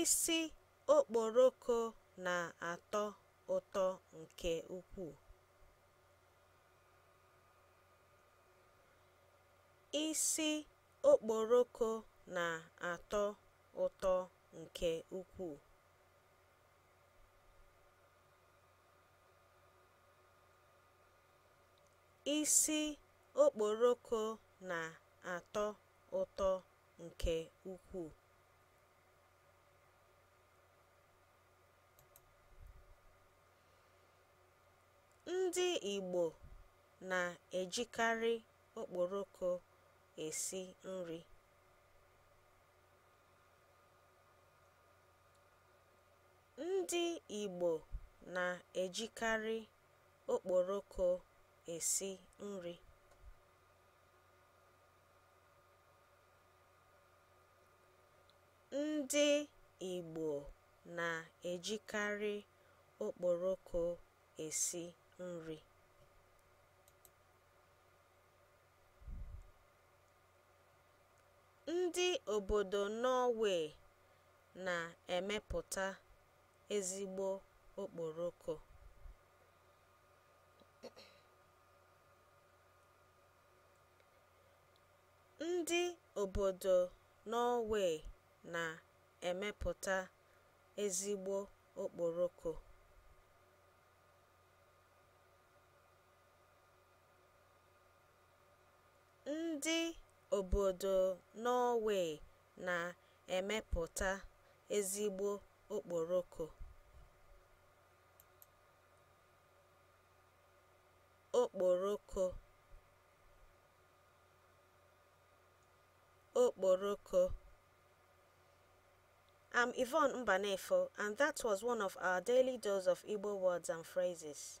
Isi okporoko na-atọ ụtọ nke ukwuu. Isi okporoko na-atọ ụtọ nke ukwuu. Isi okporoko na-atọ ụtọ nke ukwuu. Ndị Igbo na-ejikarị okporoko esi nri. Ndị Igbo na-ejikarị okporoko esi nri. Ndị Igbo na-ejikarị okporoko esi nri. Ndị obodo Norway na-emepụta ezigbo okporoko. Ndị obodo Norway na-emepụta ezigbo okporoko. Ndị obodo Norway na-emepụta ezigbo okporoko. okporoko okporoko I'm Yvonne Mbanefo, and that was one of our daily dose of Igbo words and phrases.